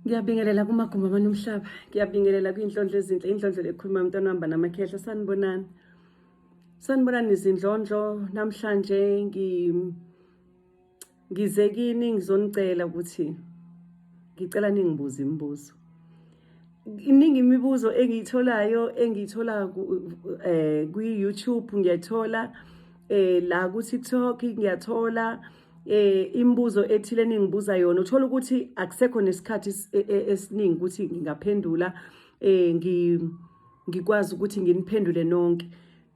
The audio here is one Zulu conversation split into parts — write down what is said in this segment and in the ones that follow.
ngiyabingelela kumagumbi amane omhlaba ngiyabingelela kuyinhlondlo ezinhle indlondlo lekhuluma mntwana wahamba namakhehla sanibonani sanibonani izindlondlo namhlanje ngize kini ngizonicela ukuthi ngicela ningibuze imibuzo iningi imibuzo engiyitholayo engiyithola eh, kwi-youtube ngiyathola um la ku-tiktok ngiyathola eh imibuzo ethile ningibuza yona uthola ukuthi akusekho nesikhathi e, e, esiningi ukuthi ngingaphendula eh ngi ngikwazi ukuthi nginiphendule nonke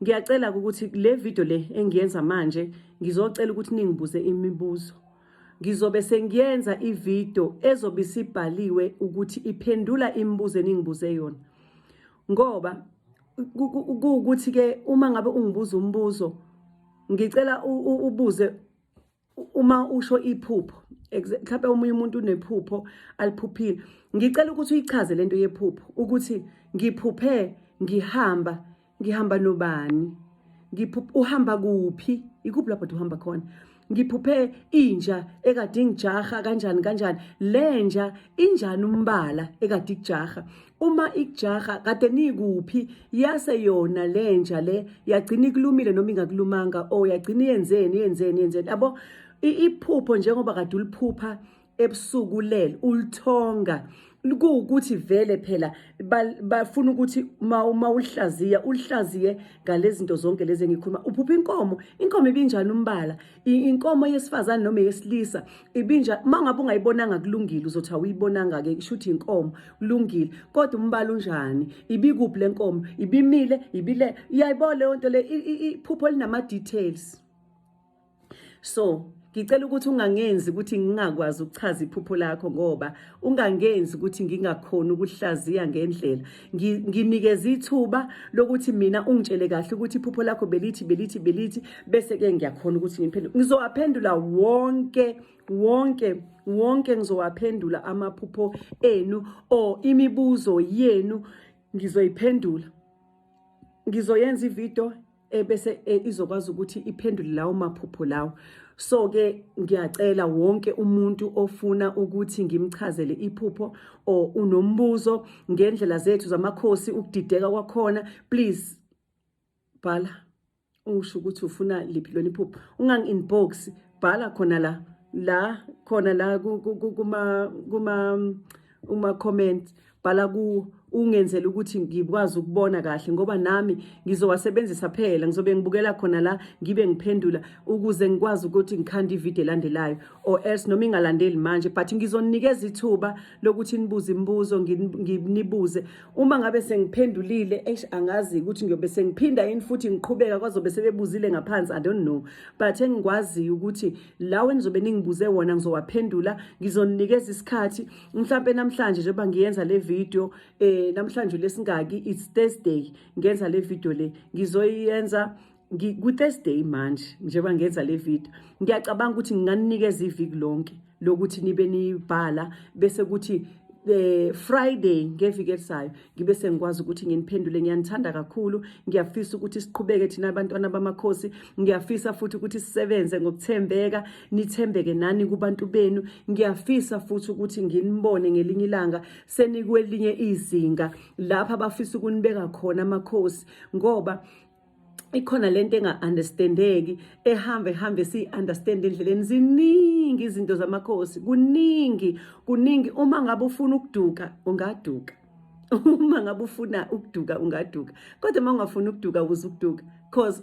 ngiyacela ukuthi le video le engiyenza manje ngizocela ukuthi ningibuze imibuzo ngizobe sengiyenza ivideo ezobe isibhaliwe ukuthi iphendula imibuzo eningibuze yona ngoba kuwukuthi ke uma ngabe ungibuza umbuzo ngicela ubuze uma usho iphupho mhlawumbe omunye umuntu unephupho aliphuphile ngicela ukuthi uyichaze lento yephupho ukuthi ngiphuphe ngihamba ngihamba nobani ngiphuphe uhamba kuphi ikuphi lapho uhamba khona ngiphuphe inja ekade ingijaha kanjani kanjani lenja injani umbala ekade ikujaha uma ikujaha kade nikuphi yase yona lenja le yagcina ikulumile noma ingakulumanga o oh, yagcina yenzeni yenzeni yenzeni yabo iphupho njengoba kade uliphupha ebusuku lel ulithonga kuwukuthi vele phela bafuna ukuthi uma ulihlaziya ulihlaziye ngalezinto zonke lezi engikhuluma uphupha inkomo inkomo ibinjani umbala inkomo yesifazane noma yesilisa ibinja uma ngabe ungayibonanga kulungile uzothi awuyibonanga-ke isho ukuthi inkomo kulungile kodwa umbala unjani ibikuphi le nkomo ibimile ibile iyayibona leyo nto le iphupho linama-details so ngicela ukuthi ungangenzi ukuthi ngingakwazi ukuchaza iphupho lakho ngoba ungangenzi ukuthi ngingakhoni ukuhlaziya ngendlela nginikeza ithuba lokuthi mina ungitshele kahle ukuthi iphupho lakho belithi belithi belithi bese ke ngiyakhona ukuthi ngiphendule ngizowaphendula wonke wonke wonke ngizowaphendula amaphupho enu or imibuzo yenu ngizoyiphendula ngizoyenza ivideo ebese e, izokwazi ukuthi iphendule lawo maphupho lawo so ke ngiyacela wonke umuntu ofuna ukuthi ngimchazele iphupho or unombuzo ngendlela zethu zamakhosi ukudideka kwakhona please bhala usho ukuthi ufuna liphi lona iphupho ungangi inbox bhala khona la la khona la kuma kuma uma comment bhala kuwo ungenzela ukuthi ngikwazi ukubona kahle ngoba nami ngizowasebenzisa phela ngizobe ngibukela khona la ngibe ngiphendula ukuze ngikwazi ukuthi ngikhande ivideo elandelayo or else noma ingalandeli manje but ngizonikeza ithuba lokuthi nibuze imibuzo nginibuze uma ngabe sengiphendulile eish angazi ukuthi ngiyobe sengiphinda yini futhi ngiqhubeka kwazobe sebebuzile ngaphansi i don't know but engikwaziyo ukuthi lawo enizobe ningibuze wona ngizowaphendula ngizoninikeza isikhathi mhlampe namhlanje njengoba ngiyenza le video eh namhlanje lesingaki it's Thursday ngenza le video le ngizoyenza ku-Thursday manje njengoba ngenza le video ngiyacabanga ukuthi nginganikeza iviki lonke lokuthi nibe nibhala bese kuthi eh Friday ngeviki elisayo ngibe sengikwazi ukuthi nginiphendule ngiyanithanda kakhulu ngiyafisa ukuthi siqhubeke thina abantwana bamakhosi ngiyafisa futhi ukuthi sisebenze ngokuthembeka nithembeke nani kubantu benu ngiyafisa futhi ukuthi nginibone ngelinye ilanga senikwelinye izinga lapha bafisa ukunibeka khona amakhosi ngoba ikhona lento enga-understandeki ehamba ehambe siyi-understand endleleni ziningi izinto zamakhosi kuningi kuningi uma ngabe ufuna ukuduka ungaduka uma ngabe ufuna ukuduka ungaduka kodwa uma ungafuni ukuduka ukuze ukuduka cause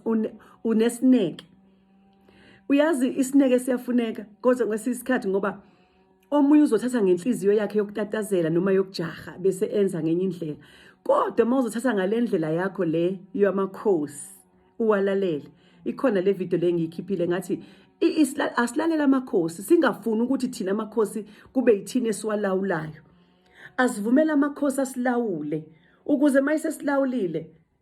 unesineke uyazi isineke siyafuneka kodwa kwesinye isikhathi ngoba omunye uzothatha ngenhliziyo yakhe yokutatazela noma yokujaha bese enza ngenye indlela kodwa uma uzothatha ngale ndlela yakho le yamakhosi uwalalele ikhona le video le ngiyikhiphile ngathi asilalela amakhosi singafuni ukuthi thina amakhosi kube yithina esiwalawulayo asivumele amakhosi asilawule ukuze uma isesilawulile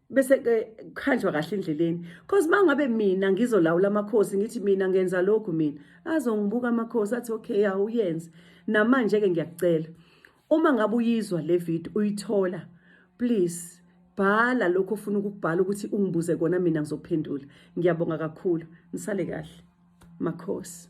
bese ke khanjwa kahle endleleni because mangabe mina ngizolawula amakhosi ngithi mina ngenza lokhu mina azongibuka amakhosi athi okay awuyenze namanje ke ngiyakucela uma ngabe uyizwa le video uyithola please bhala lokho ofuna ukubhala ukuthi ungibuze kona mina ngizophendula ngiyabonga kakhulu nisale kahle makhosi